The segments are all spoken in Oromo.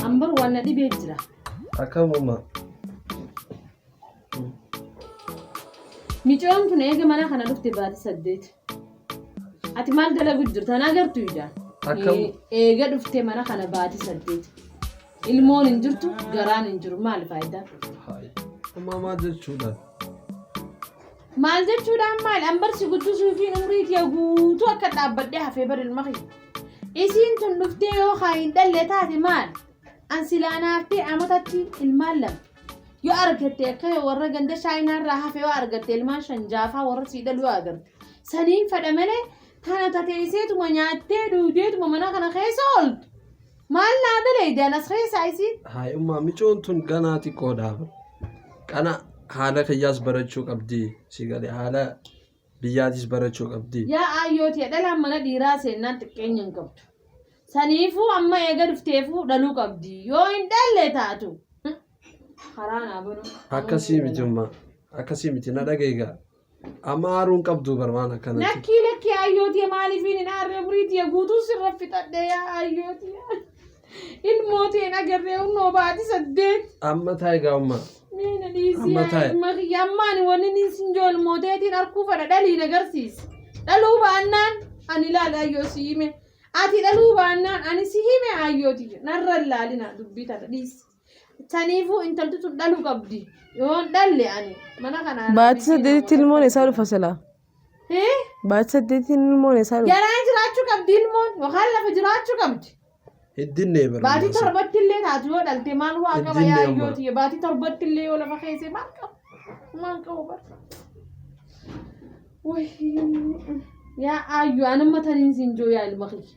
Ambar waan na dhibee jira. Akkamuma. Micoon kun eega mana kana dhufte baati saddeet. Ati maal dalagu jirta na agartu ija. Akkam- Eega dhufte mana kana baati saddeet. Ilmoon hin jirtu garaan hin jiru maali faayidaa? Amma maal jechuudha? Maal jechuudhaan maal ambarsi guddisuu fi umrii kee guutuu akka dhaabbadhee hafee bar ilma kiyya. Isiin tun dhuftee yoo haa hin dhalle taate maal? An silaa naaftee amatatti ilmaan lama. Yoo argatte akka warra ganda shaayinaa irraa hafe yoo argatte ilmaan shan jaafaa warra sii dhalu yoo agarte. Saniin fadha malee tana tateesseetuma nyaattee duudeetuma mana kana keessa ooltu. Maal naa daleeydan as keessaa isiin? Haay ummaa micoon tun ganaa xiqqoodha. Kana haala kiyyaas barachuu qabdi. Si gale haala biyyaatis barachuu qabdi. Yaa aayyooti dhalaan mana dhiiraa seennaan xiqqeenya hin qabdu. Saniifuu amma eega dhufteefuu dhaluu qabdi. Yoo hin dhalle taatu. Karaa naa banuu. Akkasii miti ummaa. Akkasii miti na dhageegaa. Amma aaruu hin qabdu bar waan akkanatti. Lakkii lakkii ayyootii maaliifiin hin aarree buriitii guutuu sirra fixadhee yaa ayyootii. Ilmootii hin agarree humnoo baati saddeet. Amma taa'e gaa'ummaa. Meena dhiisii Amma yaa taa'e. ilma kiyya ammaan wanni inni sin joo ilmooteetiin arkuu fadha dhaliin agarsiis. Dhaluu baannaan ani ilaali ayyoo si hime. Ati dhaluu baannaan ani si hime ayyootii. Narra ilaalina dubbii tana dhiisi. Saniifuu intalti tun dhaluu qabdi. Yoon dhalle ani mana kanaa. Baatii saddeetitti ilmoon isaa dhufa silaa. Hee? Baatii saddeetitti ilmoon isaa dhufa. Garaa jiraachuu qabdi ilmoon yookaan lafa jiraachuu qabdi. Hiddinne bara. Baatii torbatti illee taatu yoo dhalte maal waa qaba Iddinni yaa amma. yoo ta'e baatii torbatti illee yoo lafa keesse maal qaba maal qaba bara. Wayii yaa aayyu anumma taniin siin joo yaa ilma kiyya.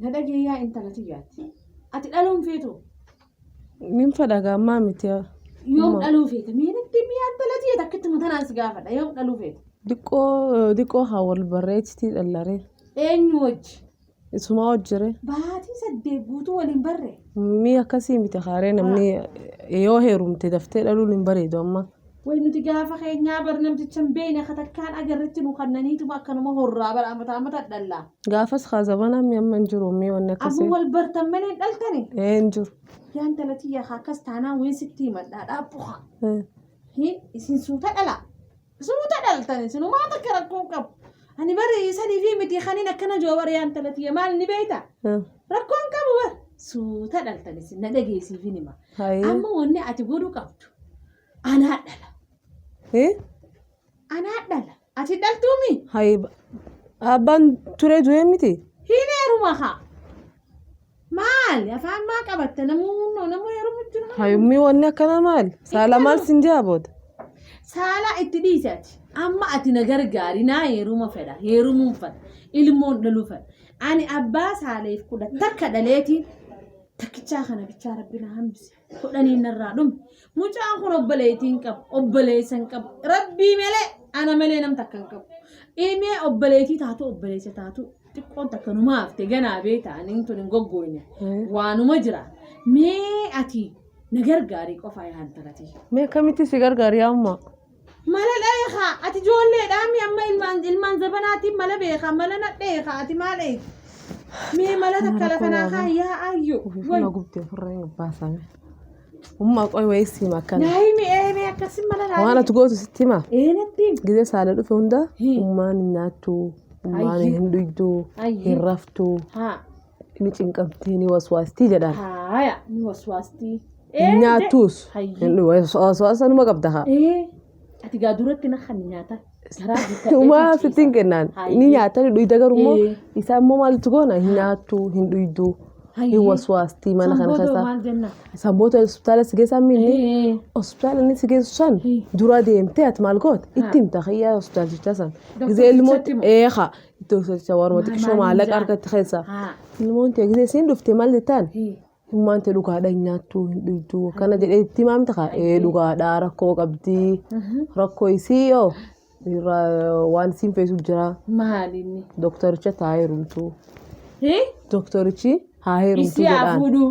Na dhagee yaa intala tiyyaatti. Ati dhaluu hin feetu. Nin fedha gaammaa miti. Yoom dhaluu feeta? Mee natti himi yaa intala tiyya takkittuma tanaan si gaafadha. Yoom dhaluu feeta? Diqqoo diqqoo haa wal barreechitii dhallaree. Eenyu wajji? Isumaa hojjire. Baatii saddeet guutuu waliin barre. Mii akkasii miti kaaree namni yoo heerumte daftee dhaluun hin bareedu amma. Way nuti gaafa keenyaa bar namticha hin beeyne akka takkaan agarretti nu kannaniituma akkanuma horraa bara amataa amataa dhallaa. Gaafas kaa zabana mi amma hin jiru mi wanni Amma akkasii. wal bartan malee hin dhaltani. Ee hin jiru. Yaan talatii yaa akkas taanaan wayin sitti himadhaa dhaabbu haa. Ee. Hi isin suuta dhala. Suuta dhaltan isin umaa takka rakkoo hin qabu. Ani bari sanii fi miti kaniin akkana joo bari yaan talatii maal ni beeyta. Ee. Rakkoo hin qabu bar. Suuta dhaltan isin na dhageessiifin hima. Hayii. Amma wanni ati godhuu qabdu. Anaa dhala. Eh? Anaa dhala. Ati dhaltuumi? Hayi abbaan turee du'ee miti. Hin heeruma haa. Maali? Afaan maa qabatta? Namuu namuu heerumu jira. Hayi ummii wanni akkana maali? Saala maal sin jaa booda. Saalaa itti dhiisi ati. Amma ati na gargaari naa heeruma fedha. Heerumuun fedha. Ilmoon dhaluu fedha. Ani abbaa saaleef kudha takka dhaleeti. Takkichaa kana bichaa rabbi na hambise. kudhaniin narraa dhume mucaan kun obboleettiin qabu obboleessa hin qabu rabbii malee ana malee nam takka hin qabu ilmee obboleettii taatu obboleessa taatu xiqqoon takka nu maafte ganaa beekta ani tun hin goggooyne waanuma jira mee ati na gargaarii qofaa yaa hantalatii. Mee akkamitti si gargaari amma? Mala dheeka ati ijoollee dhaami amma ilmaan ilmaan zabanaatiin mala beeka mala na dheeka ati maal eegi mee mala takka lafa naa kaa yaa ayyu Ufifuma gubte ofirra hin baasame. Umma qoy wayii siima akkana. naa himi ee mee akkasi mala naa Waan ati gootu sitti hima. ee natti himi. Gizee saala dhufe hunda Hi. ummaan hin nyaattu, ummaan Ayyi. hin dhuydu, Ayyi. hin raftu. haa Ni cinqamtii ni waswaastii jedhaan. Haaya ni waswaastii. Hin nyaattuus. Hayyee. Waswaasa numa qabda haa. Ee ati gaa duratti na kan nyaata. Garaa guuttadhee Umaa kan sittiin ciisa. kennaan. Ni Hayyee. nyaata ni dhuyda garuu immoo Ee. isaa immoo maaltu goona hin nyaattu hin dhuydu hin Hayyee. waswaastii mana kana Sanboodoo keessaa. maal jenna? Isaan booda hospitaala si geessaa miinni. Ee. Hospitaala inni si geessu san Ee. dura deemtee ati maal goote itti himta kiyyaa hospitaalchaa san. Doktor Gizee ilmoo Fichaatti moo? eeqa Itti hojjecha warma xiqqishoo maallaqa argatti keessa. Ilmoon tee gisee siin dhufte maal jettaan? Ilmaan tee dhugaadha hin nyaattu hin dhugdu akkana jedhee itti himaamte kaa ee dhugaadha rakkoo qabdi rakkoo isii yoo irraa waan siin feesu jira Maalinni. doktaricha taa heerumtu Hii? doktarichi haa heerumtu Isii haa jedhaan. fuudhuu.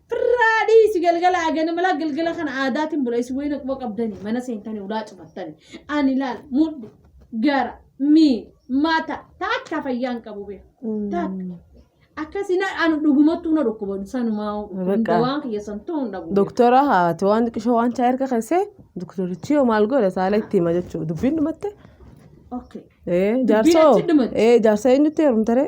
Firraa dhiisi galgala agana malaa galgala kana aadaatiin bula isin wayina quba qabdani mana seentani ulaa cufattani ani laal mudhi gara mi mata takka fayyaan qabu bee takka akkasi na anu dhugumattu na dhukkuba sanumaa Bakka. waan kiyya santuu hin dhabu Doktora haati waan xiqqishoo waan chaa erga keessee doktorichi yoo maal godhe saala itti hima jechuudha. Dubbiin dhumatte. okay Ee jaarsoo. achi dhumatte. Ee jaarsa eenyutti heerumtaree?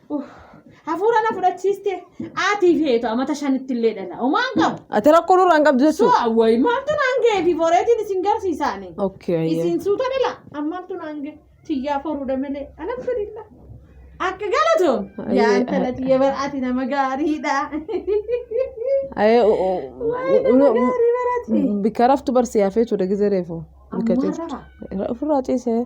Hafuura na fudhachiiste aatii fi eetu amata shanitti illee dhala. Homaan qabu. Ati rakkoo nurraa hin qabdu jechuudha. Su'a wayi maaltu naan ga'e fi boreetiin isin garsiisaani. Okay, ayyee. Isin suuta dhala ammaaltu naan ga'e tiyyaa foruudha malee alhamdulillah. Akka galatoom Ayyee. yaa intala tiyya bar'aati nama gaariidha. Ayee, u- u- Wayi u- nama u- gaarii barati. Bikka raftu barsi hafee ture gizee reefu. Bikka Ammaa ciiftu. rara. Ofirraa ciisee.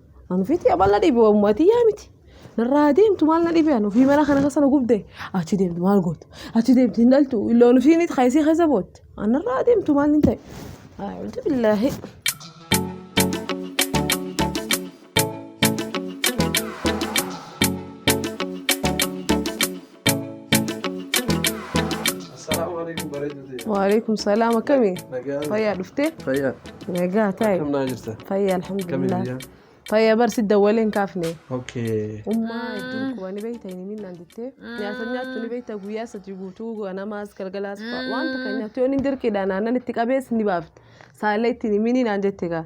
An ofiitti abal na dhibe waamuma tiyyaa miti. Narraa deemtu maal na dhibe an ofii mana kana keessa na gubde achi deemtu maal gootu achi deemtu hin dhaltu illoon ofii miti kaayisii keessa bootte an narraa deemtu maal hin ta'e. A'uuzu billaahi. Assalaamu alaikum bareedu ta'e. Waalaikum salaam akkami? Nagaa. Fayyaa dhuftee? Fayyaa. Nagaa taa'e. Akkam naa jirta? Fayyaa Akkami alhamdulillah. biyyaa? Fayyaa barsi dawwaleen kaafne. Okay. Ummaa iddoo kuba ni beekta hin himin naan jettee. Nyaata nyaattu ni beekta guyyaa sadi guutuu ganamaas galgalaas fa'a. Wanta kan nyaattu yoo inni dirqiidhaan aannan itti qabees ni baafte. Saalee itti hin himin naan jette gaa.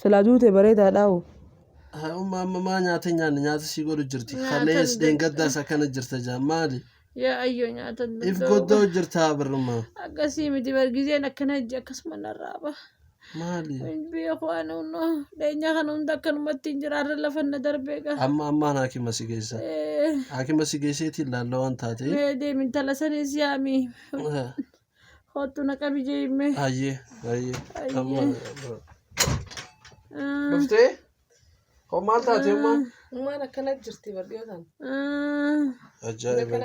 Silaa duute bareedaadhaa hoo. Haa umma amma maa nyaata nyaanne nyaata sii godhu jirti Nyaatan kalees dadhabe. dheengaddaas akkana jirta jaa maali Yaa ayyoo nyaata if dadhabe. goddoo jirta birrummaa Akkasii miti bar gizeen akkana hojii akkasuma narraa ba'a. maali Hin beeku ani hunnoo dheenyaa kana hunda akkanumatti hin jira har'a lafa na darbee gaa. amma ammaan haakima si geessa Eh, haakima si geesseetiin laalla waan taate Mee deemi intala saniis yaami. Kottu na qabi jeeyimmee. Hayyee hayyee. Amma dhuftee? Hoo maal taate amma? Ummaan akkana jirti bar dhiyoo tana. Ajaa'iba.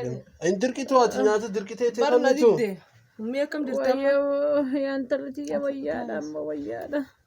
Hin dirqitu ati nyaata dirqitee Bar na teessaniitu. didde. Ummii akkam jirti amma? Wayyoo yaa intalli tiyya wayyaadha amma wayyaadha.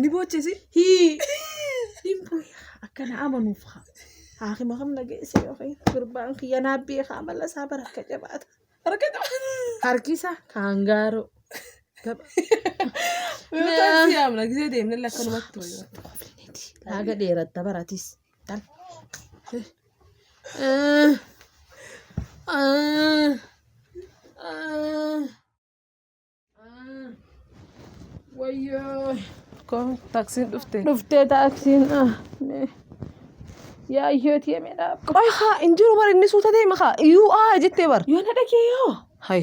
Ni boochisi. Akkana amanuuf haa. Haakima kam nageessee yookiin gurbaan kiyya naa beekaa mala isaa bara akka jabaata. Harkisa kaan gaaroo. Yoo taasifamu nagisee deemnee lakkanumatti. Haga dheeratta baratis. Wayyoo. Kom taksiin dhufte. Dhuftee taaksiin ah. mee. Yaa hiyyooti yemee dhaaf. Qoy haa hin jiru bar inni suuta deema haa. Iyyuu aa jettee bar. Yoo na dhagee yoo. Hay.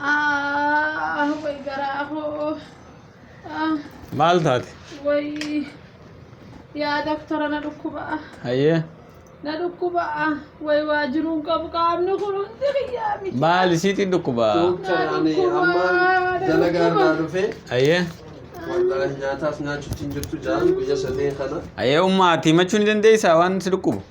Aah way garaa koo. Ah, Maal taate? way yaa doktora na dhukkuba. Hayyee. Na dhukkuba. Way waa jiruun qabu qaamni kun hundi kiyyaa miti. Maal isiitiin dhukkubaa? Doktar ani amma dalagaa irraa dhufee Hayyee. wallaahi nyaataaf nyaachuutti hin jirtu jaan guyya sadeen kana. Hayyee ummaa ati himachuu ni dandeessaa waan si dhukkubu?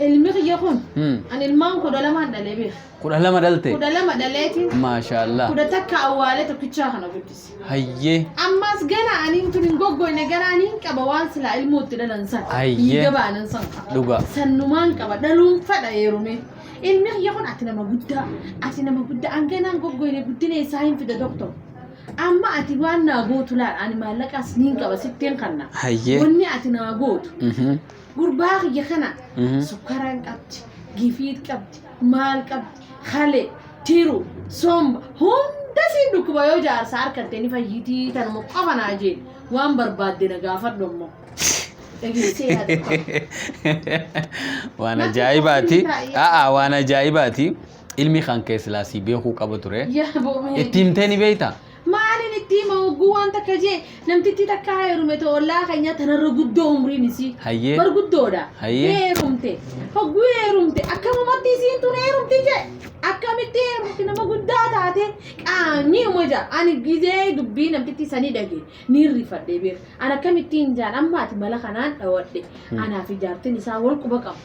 Ilmi kiyya kun Hmm. an ilmaan kudha lamaan dhalee beeka. Kudha lama dhalte. Kudha lama dhaleeti Maashaallah. kudha takka awwaalee tokkichaa kana guddise. Hayyee. Ammas gana ani utuu hin goggoyne gana ani hin qaba waan silaa ilmoo itti dhalan san. Ayyee. Dhiiga baanan san qaba. Dhugaa. Sannumaan qaba dhaluun fadha heerume. Ilmi kiyya kun ati nama guddaa ati nama guddaa an ganaan goggoyne guddina isaa hin fida doktor. Amma ati waan naa gootu laal ani maallaqaas niin qaba sittiin kanna. Hayyee. Wanni ati naa gootu Mhm. Gurbaa kiyya kana sukkara hin qabdi, gifiit qabdi, maal qabdi, hale, tiru, somba hunda siin dhukkuba yoo jaarsa harkatte ni fayyitii tanuma qofa naa jeen waan barbaadde na gaafadhu ammoo. Dhageessee yaada qofa. waan Natti ajaa'ibaati toluu hin taa'e. aa waan ajaa'ibaati ilmi kan kee silaasii beekuu qaba ture Yaa boomee. itti himtee ni beektaa Maalin itti hima hogguu waan takka jee namtittii takka heerume ta ollaa keenyaa tanarra guddoo umriin isii. Hayyee. Bar guddoodha. Hayyee. Heerumte. Hogguu heerumte akkamumatti isiin tun heerumti jee akkamitti heerumti nama guddaa taate qaamni uma jaa ani gizee dubbii namtittii sanii dhage ni rifadhe beer an akkamittiin jaan amma ati mala kanaan dhawadhe anaa fi jaartin isaa wal quba qabu.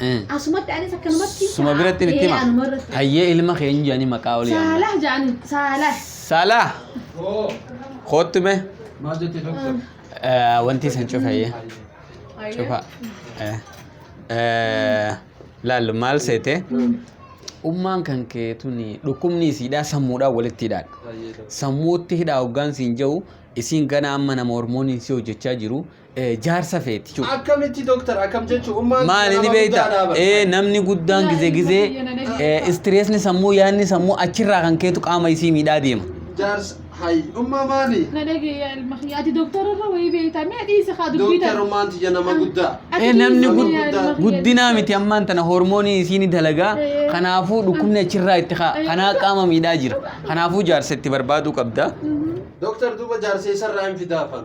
Eh. Asumatti anis akkanumatti. Suma biratti itti hima. Eh, anuma irratti. Hayyee ilma kee hin jedhanii maqaa olii amma. Saalah jedhanii. Saalah. Saalaa. Koottu mee. Maal jette doktor? Eh, Wanti isin cufa hayyee. Cufa. Eh. Eh, Laallu maal seete? Ummaan kan kee tuni dhukkubni isiidhaa sammuudhaan walitti hidhaadha. Sammuutti hidhaa hoggaan siin jedhu isiin gana amma nama hormooniin si hojjechaa jiru eh, jaarsa feeti cufa. Akkamitti doktar akkam jechuun ummaan Maali ni beekta? Eh, namni guddaan gizee gizee eh, istireesni sammuu yaadni sammuu achirraa kan keetu qaama isii miidhaa deema. Jaarsa hayi ummaa maali? na dhageeyaa ilma kiyya ati doktora irra wayii beekta mee dhiisa kaa dubbii Doktar tana ummaan tiyya nama guddaa. Ati Eh, namni dhiisi gud- yaa ilma kiyya. guddinaa miti ammaan tana hormoonii isii ni dalagaa Eh. kanaafuu dhukkubni achirraa itti kaa Eh. kanaa qaama miidhaa jira kanaafuu jaarsa itti barbaaduu qabda. Mhm. Doktar duuba jaarsa isarraa hin fidaafan.